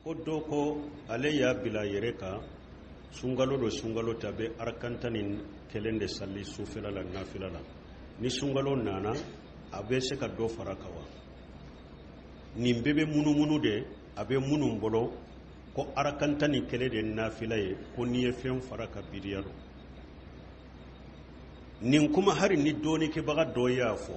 ko dɔ ko ale y'a bila yɛrɛ kan sunkalo don sunkalo tɛ a bɛ arakan tan ni kelen de sali sufɛla la nafila la ni sunkalo nana a bɛ se ka dɔ fara kan wa nin bɛɛ bɛ munumunu de a bɛ minnu bolo ko arakan tan ni kelen de nafila ye ko n'i ye fɛn fara kan bidiya don nin kuma hali ni dɔnnikɛbaga dɔ y'a fɔ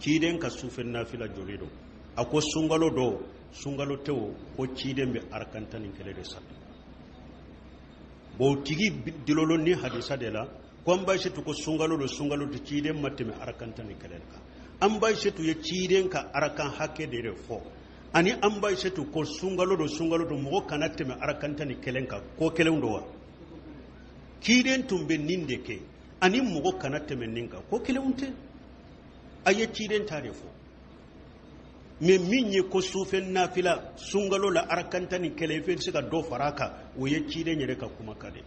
ciden ka sufɛ nafila joli don a ko sunkalo don sunkalo tɛ o ko ciden bɛ arakan tan ni kelen de sali bon tigi dulonnen nin hadisa de la ko an ba ayisetu ko sunkalo don sunkalo tɛ ciden ma tɛmɛ arakan tan ni kelen kan an ba ayisetu ye ciden ka arakan hakɛ de de fɔ ani an ba ayisetu ko sunkalo don sunkalo don mɔgɔ kana tɛmɛ arakan tan ni kelen kan ko kelen don wa ciden tun bɛ nin de kɛ ani mɔgɔ kana tɛmɛ nin kan ko kelen tɛ a ye ciden ta de fɔ mɛ min ye ko sufɛ nafila sunkalo la arakan tan ni kelen i bɛ se ka dɔ fara a kan o ye ciden yɛrɛ ka kumakan de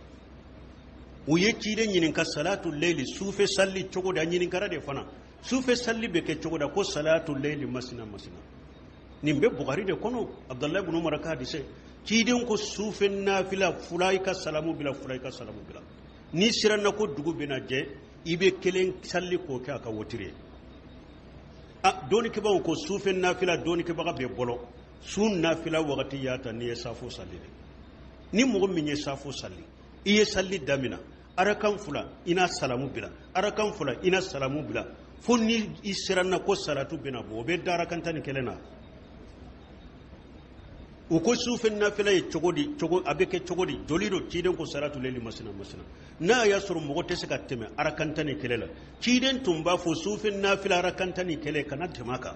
u ye ciden ɲininka salatu leyili sufɛ salili cogo di a ɲininkara de fana sufɛ salili bɛ kɛ cogo di a ko salatu leyili masina masina nin bɛ bukari de kɔnɔ abudulayi bunu umara ka hadise ciden ko sufɛ nafila fula i ka salamu bila fula i ka salamu bila n'i siranna ko dugu bɛna jɛ i bɛ kelen sali k'o kɛ a ka wotiri ye a dɔnnikɛbaaw ko sufɛ nafila dɔnnikɛbaga bɛɛ bolo su nafila wagati y'a ta n'i ye safo sali de ni mɔgɔ min ye safo sali i ye salili damina arakan fila i na salamu bila arakan fila i na salamu bila fo ni i siranna ko salatu bɛna bɔ o bɛ dan arakan tan ni kelen na u ko sufɛ nafila ye cogo di cogo a bɛ kɛ cogo di joli don ciden ko salatu leli masina masina n'a y'a sɔrɔ mɔgɔ tɛ se ka tɛmɛ arakan tan ni kelen na ciden tun b'a fɔ sufɛ nafila arakan tan ni kelen kana tɛmɛ a kan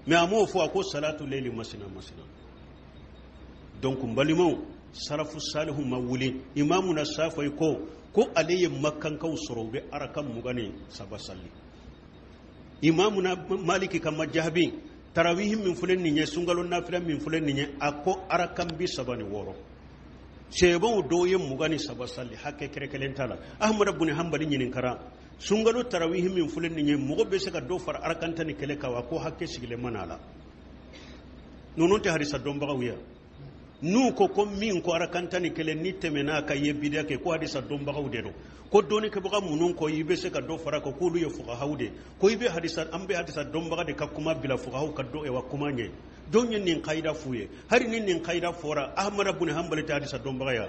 mɛ a m'o fɔ a ko salatu leli masina masina donc n balimaw salafu salihu ma wuli imamuna safayi ko ko ale ye makankaw sɔrɔ u bɛ arakan mugan ni saba sali imamuna maliki ka majahabi tarawihi min filɛ nin ye sunkalo nafila min filɛ nin ye a ko arakan bi saba ni wɔɔrɔ sahabaw dɔw ye mugan ni saba sali hakɛ kɛrɛkɛlen t'a la ahmadu buni hanbali ɲininkara sunkalo tarawihi min filɛ nin ye mɔgɔ bɛ se ka dɔ fara arakan tan ni kelen kan wa ko hakɛ sigilen ma na a la ninnu tɛ hadisa dɔnbagaw ye n'u ko ko min ko arakan tan ni kelen n'i tɛmɛna a kan i ye bidiya kɛ ko hadisa dɔnbagaw de don ko dɔnnikɛbaga minnu ko i bɛ se ka dɔ fara kan k'olu ye fugahaw de ko i bɛ hadisa an bɛ hadisa dɔnbaga de ka kuma bila fugahaw ka dɔ wa kuma ɲɛ jɔn ye nin kayida f'u ye hali ni nin kayida fɔra ahamada buni hanbali tɛ hadisa dɔnbaga ya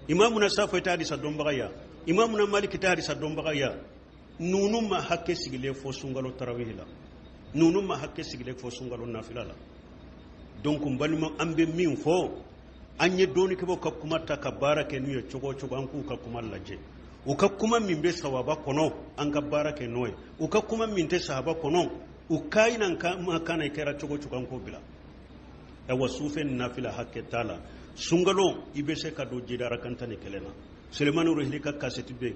imamuna safɛ tɛ hadisa dɔnbaga ya imamuna maliki tɛ hadisa dɔnbaga ya ninnu ma hakɛ sigilen fɔ sunkalo tarawihi la ninnu ma hakɛ sigilen fɔ sunkalo nafila la donc n balima an bɛ min fɔ an ye dɔnnikɛbaw ka kuma ta ka baara kɛ n'u ye cogo o cogo an k'u ka kuma lajɛ u ka kuma min bɛ sawaba kɔnɔ an ka baara kɛ n'o ye u ka kuma min tɛ sawaba kɔnɔ u ka ɲi na ka ma kan na kɛra cogo cogo an k'o bila awa sufɛ nafila hakɛ t'a la sunkalo i bɛ se ka dɔ jidi arakan tan ni kelen na sulemani ruhili ka kasɛti bɛ yen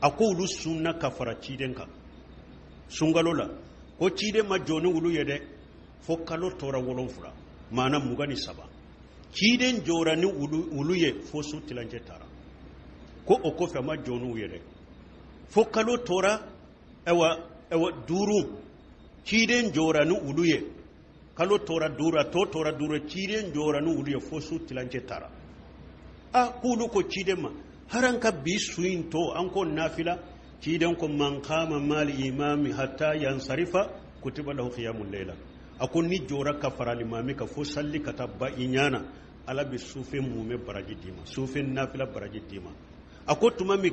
a ko olu sunna ka fara ciden kan sunkalo la ko ciden ma jɔ ni olu ye dɛ fo kalo tora wolonfila maana mugan ni saba ciden jɔra ni olu ye fo su tilancɛ taara ko o kɔfɛ a ma jɔ n'u ye dɛ fo kalo tora ɛwa ɛwa duuru ciden jɔra ni olu ye kalo tora duuru to tora duuru ciden jɔra ni olu ye fo su tilancɛ taara a k'olu ko ciden ma haran ka bi su in tɔ an k'o nafila ciden ko man qama ma'al imami hatta yansarifa kutiba lahu qiyamul layla a ko n'i jɔra ka fara limami kan fo sali ka taa ban i ɲana ala bɛ sufɛ mumɛ baraji d'i ma sufɛ nafila baraji d'i ma a ko tuma min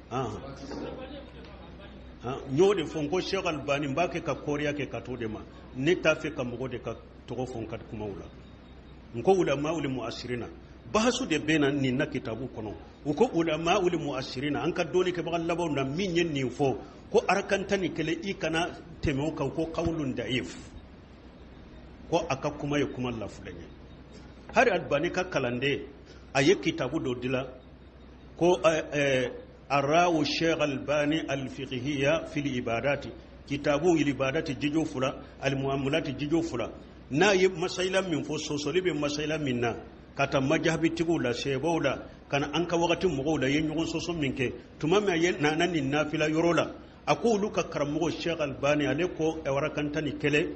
n y'o de fɔ n ko sheikh albani n b'a kɛ ka kɔɔriya kɛ ka to de ma ne t'a fɛ ka mɔgɔ de ka tɔgɔ fɔ n ka kumaw la n ko ulama'ul muasirina bahasu de bɛ na nin na kitabu kɔnɔ u ko ulama'ul muasirina an ka dɔnnikɛbaga labanw na min ye nin fɔ ko arakan tan ni kelen i kana tɛmɛ o kan ko qawlun da'if ko a ka kuma ye kuma lafulen ye hali albani ka kalanden a ye kitabu dɔ dilan ko ara'u sheikh albani alfiqhiyya fil ibadati kitabu ibadati jijo fula almuamulati jijo fula n'a ye masayila min fɔ sosoli bɛ masayila min na ka taa majahibitigiw la sɛbɛw la ka na an ka wagati mɔgɔw la ye ɲɔgɔn sɔsɔ min kɛ tuma min a ye nana nin nafila yɔrɔ la a ko olu ka karamɔgɔ sheikh albani ale ko ɛwa arakan tan ni kelen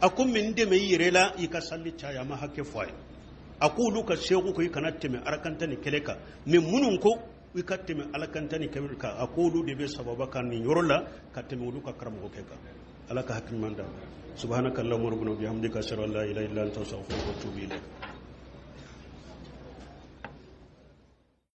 a ko ne dɛmɛ i yɛrɛ la i ka sali caya a ma hakɛ fɔ a ye a ko olu ka sheikh ko i kana tɛmɛ arakan tan ni kelen kan mais minnu ko i ka tɛmɛ arakan tan ni kelen kan a ko olu de bɛ sawaba kan nin yɔrɔ la ka tɛmɛ olu ka karamɔgɔkɛ kan ala ka hakiliman da subhanaka allahumma rabbana bihamdika ashhadu an la ilaha illa anta astaghfiruka wa atubu ilayk